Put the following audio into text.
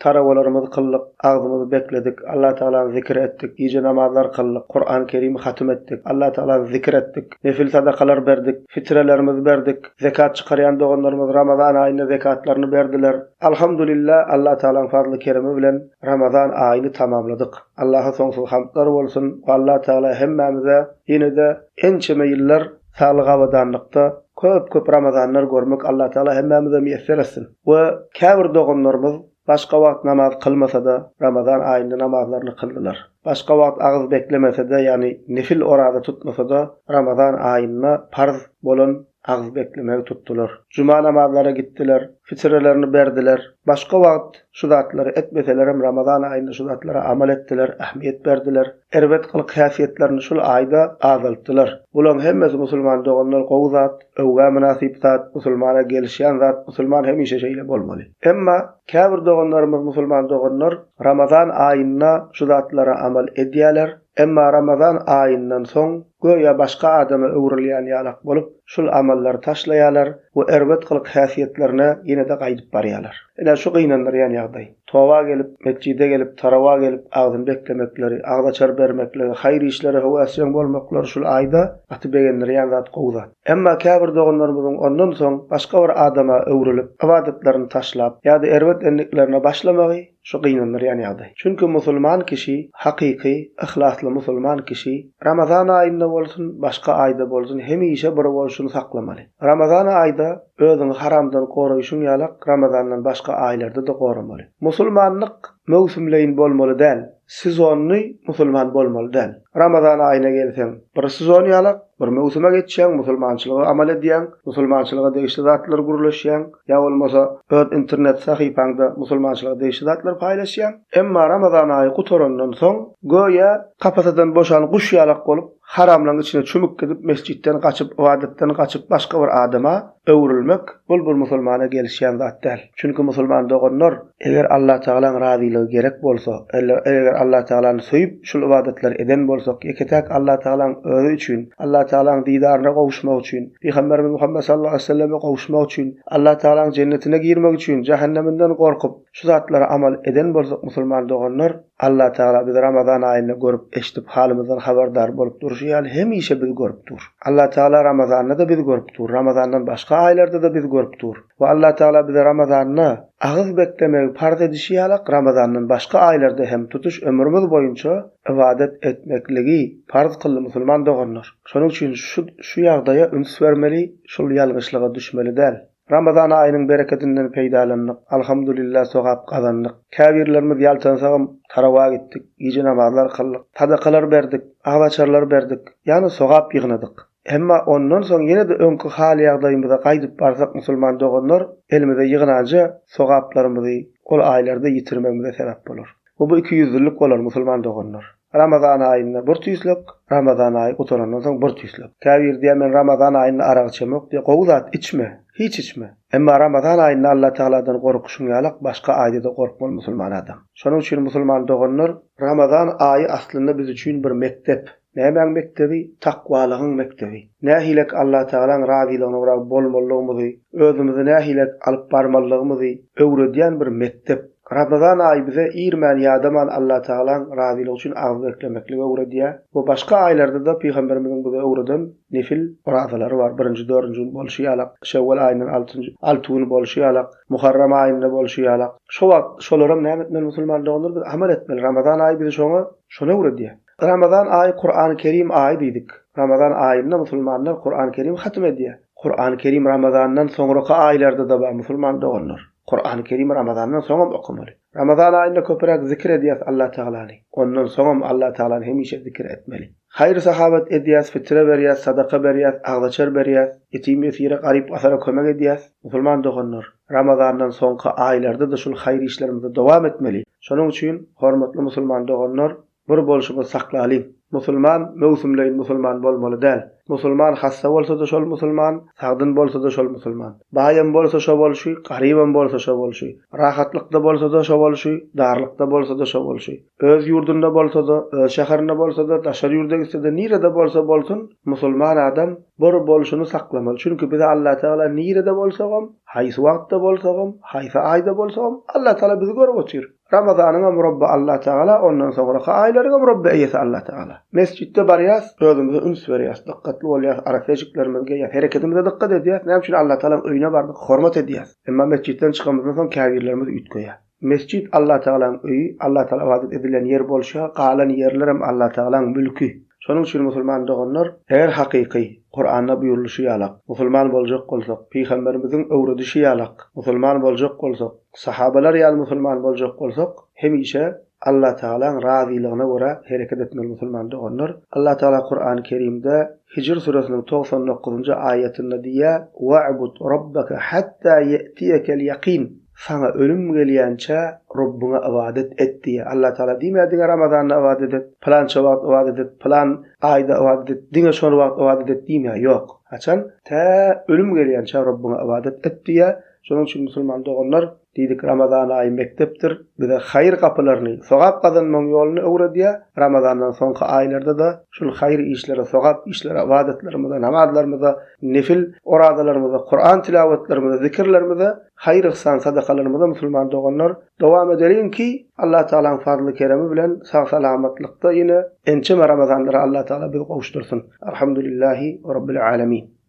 Tarawalarymyzy kyldyk, agzymyzy bekledik, Allatagala zikir etdik, gije namazlar kyldyk, Kurany Kerimi hatym etdik, Allatagala zikir etdik, nefil sadakalar berdik, fitrelerimizi berdik, zekat çykarýan doganlarymyz Ramazan aýynda zekatlaryny berdiler. Alhamdulillah, Allatagalaň fazly-keremi bilen Ramazan aýyny tamamladyk. Allaha soňsuz hamdlar bolsun we Allatagala hemmämize ýene-de ençeme ýyllar saglyk-abadanlykda, köp-köp Ramazanlar görmek Allatagala hemmämize miýesser etsin. We käbir doganlarymyz başga wagt namaz kylmasada Ramazan aýynda namazlaryny kyldylar. Başga wagt agyz beklemesede ýagny nefil oraza tutmasada Ramazan aýynda parz bolan agyz beklemegi tutdylar. Juma namazlara gitdiler, fitrelerini berdiler. Başga wagt şu zatlary etmeselerem Ramazan aýynda şu zatlara amal etdiler, ähmiýet berdiler. Erbet gylyk-häsiýetlerini şul aýda azaltdylar. Bulaň hemmesi musulman doganlar gowy zat, öwgä mynasyp zat, musulmana gelişýän zat, musulman hemişe şeýle bolmaly. Emma käbir doganlarymyz musulman doganlar Ramazan aýynda şu zatlara amal edýäler, emma Ramazan aýyndan soň göýä başga adama öwrülýän ýalak bolup şul amallary taşlaýalar we erbet gylyk-häsiýetlerine ýene-de gaýdyp barýalar. Ine şu gynandyrýan ýagdaý. Toba gelip, metjide gelip, tarawa gelip agzyny beklemekleri, agzaçar bermekligi, haýyr işlere höwesjeň bolmaklary şul aýda gaty begendirýän zat, gowy zat. Emma käbir doganlarymyzyň ondan soň başga bir adama öwrülip, ybadatlaryny taşlap, ýa-da erbet endiklerine başlamagy şu gynandyrýan ýagdaý. Çünki musulman kişi, hakyky, yhlasly musulman kişi Ramazan aýynda bolsun, başga aýda bolsun hemişe bir bolşuny saklamaly. Ramazan aýda Özüňi haramdan goraýşyň ýalak Ramazandan başga aýlarda-da goramaly. Musulmanlyk möwsümleýin bolmaly däl, sezonnyý musulman bolmaly däl. Ramazan aýyna gelseň, bir sezon ýalak, bir möwsüme geçýäň, musulmançylygy amal edýäň, musulmançylyga degişli zatlary gürleşýäň, ýa bolmasa öz internet sahypaňda musulmançylyga degişli zatlary paýlaşýaň. Emma Ramazan aýy gutarandan soň, göýä kapasadan boşan guş ýalak bolup, Haramlaryň içine çümüp gidip, mesjitden gaçyp, ybadatdan gaçyp, başga bir adama öwrülmek, bul bir musulmana gelişýän zat däl. Çünki musulman doganlar, eger Allatagalaň razylygy gerek bolsa, eger Allatagalany söýüp, şul ybadatlary eden bolsak, ýeke-täk Allatagalaň özi üçin, Allatagalaň didaryna gowuşmak üçin, Pygamberimiz Muhammet sallallahu aleýhi we selleme gowuşmak üçin, Allatagalaň jennetine girmek üçin, jähenneminden gorkup, Şu zatlara amal eden bolsak musulman doganlar, Allah Tagala bizi Ramazan aýynda görüp, eşdip, halymyzdan habardar bolup durşy ýaly hemişe bizi görüp dur. Allah Tagala Ramazanda-da bizi görüp dur, Ramazandan başga aýlarda-da bizi görüp dur. We Allah Tagala bize Ramazanda agyz beklemegi parz edişi ýalak Ramazandan başga aýlarda hem tutuş ömrümiz boýunça ybadat etmekligi parz kyldy musulman doganlar. Şonuň üçin şu şu ýagdaýa üns bermeli, şul ýalňyşlyga düşmeli däl. Ramazan aýynyň berekedinden peýdalandyk, Alhamdulillah sogap gazandyk. Käbirlerimiz ýaltansagam tarawa gitdik, gije namazlar kyldyk, sadakalar berdik, agzaçarlar berdik, ýagny sogap ýygnadyk. Emma ondan soň ýene-de öňki hal-ýagdaýymyza gaýdyp barsak musulman doganlar elimize ýygnanja sogaplarymyzy ol aýlarda ýitirmegimize sebäp bolar we bu ikiýüzlülik bolar musulman doganlar. Ramazan aýynda bir tüýslek, Ramazan aýy gutarandan soň bir tüýslek. Käbiri diýýär men Ramazan aýynda arag içemok diýýär. Gowy zat, içme, hiç içme. Emma Ramazan aýynda Allatagaladan gorkyşyň ýalak başga aýda-da gorkmaly musulman adam. Şonuň üçin musulman doganlar, Ramazan aýy aslynda biz üçin bir mekdep. Nämäň mekdebi? Takwalygyň mekdebi. Nähilek Allatagalaň razylygyna gara bolmalygymyzy, özümizi nähilek alyp barmalygymyzy öwredýän bir mekdep. Ramazan aýy bize irmän ýadaman Allatagalaň razylygy üçin agyz beklemekligi öwredýär we başga aýlarda-da Pygamberimiziň bize öwreden nefil orazalary bar, birinji, dördünji gün bolşy ýalak, şewwal aýyndan altynjy, alty gün bolşy ýalak, muharram aýynda bolşy ýalak. Şo wagt şolaram näme etmeli musulman doganlar biz amal etmeli. Ramazan aýy bizi şoňa, şony öwredýär. Ramazan aýy Kurany Kerim aýy diýdik. Ramazan aýynda musulmanlar Kurany Kerim hatym edýär. Kurany Kerim Ramazandan soňraky aýlarda-da bar musulman doganlar. Kurany Kerim Ramazandan soňam okamaly. Ramazan aýynda köpüräk zikir edýäs Allah Tagalany. Ondan soňam Allah Tagalany hemişe zikir etmeli. Haýyr-sahawat edýäs, fitre berýäs, sadaka berýäs, agzaçar berýäs, ýetim-ýesire, garyp-gasara kömek edýäs. Musulman doganlar, Ramazandan soňky aýlarda-da şul haýyr işlerimizi dowam etmeli. Şonuň üçin, hormatly musulman doganlar, Bir bolşumyz saklalyň. Musulman möwsümleýin musulman bolmaly däl. Musulman hassa bolsada şol musulman, sagdyn bolsada şol musulman. Baýam bolsa şo bolşy, garybam bolsa şo bolşy. Rahatlykda bolsada şo bolşy, darlykda bolsada şo bolşy. Öz ýurdunda bolsada, öz şäherinde bolsada, daşary ýurda gitsede nirede bolsa bolsun, musulman adam bir bolşuny saklamaly. Çünki bize Allatagala nirede bolsagam, haýsy wagtda bolsagam, haýsy aýda bolsagam Allatagala bizi görüp otyr. Ramazanyňam Rabby Allah Tagala, ondan soňraky aýlaryňam Rabby eýesi Allah Tagala. Mesjitde barýas, özümize üns berýäs, dykgatly bolýas, arasejiklerimizi geýýäs, hereketimize dykgat edýäs, näme üçin Allah Tagalaň öýüne bardyk, hormat edýäs. Emma mesjitden çykanymyzdan soň käbirlerimiz üýtgeýär. Mesjit Allah Tagalaň öýi, Allah Tagala ybadat edilen ýer bolşa, galan ýerlerem Allah Tagalaň mülki. Şonuň üçin musulman doganlar, eger hakyky, Kuranda buýrulyşy ýalak, musulman boljak bolsak, pygamberimiziň öwredişi ýalak, musulman boljak bolsak, sahabalar ýaly musulman boljak bolsak, hemişe Allatagalaň razylygyna görä hereket etmeli musulman doganlar. Allatagala Kurany Kerimde Hijr süresiniň togsan dokuzynjy aýatynda diýýär, We'bud Rabbeke hatta ýe'tiýekel ýakin. Saňa ölüm gelýänçä Robbyňa ybadat et diýýär. Allatagala diýmeýär diňe Ramazanda ybadat et, pylança wagt ybadat et, pylan aýda ybadat et, diňe şol wagt ybadat et diýmeýär. Ýok. Haçan? Tä ölüm gelýänçä Robbyňa ybadat et diýýär. Şonuň üçin musulman doganlar, diýdik, Ramazan aýy mekdepdir, bize haýyr gapylaryny, sogap gazanmagyň ýoluny öwredýär. Ramazandan soňky aýlarda-da şul haýyr işlere, sogap işlere, ybadatlarymyza, namazlarymyza, nefil orazalarymyza, Kuran tilawatlarymyza, zikirlerimize Haýyr-yhsan, sadakalarymyza musulman doganlar, dowam edeliň ki, Allatagalaň fazly-keremi bilen sag-salamatlykda ýene ençeme ramazanlara Allatagala bizi gowuşdyrsyn. Alhamdulillähi Rabbil Alemin.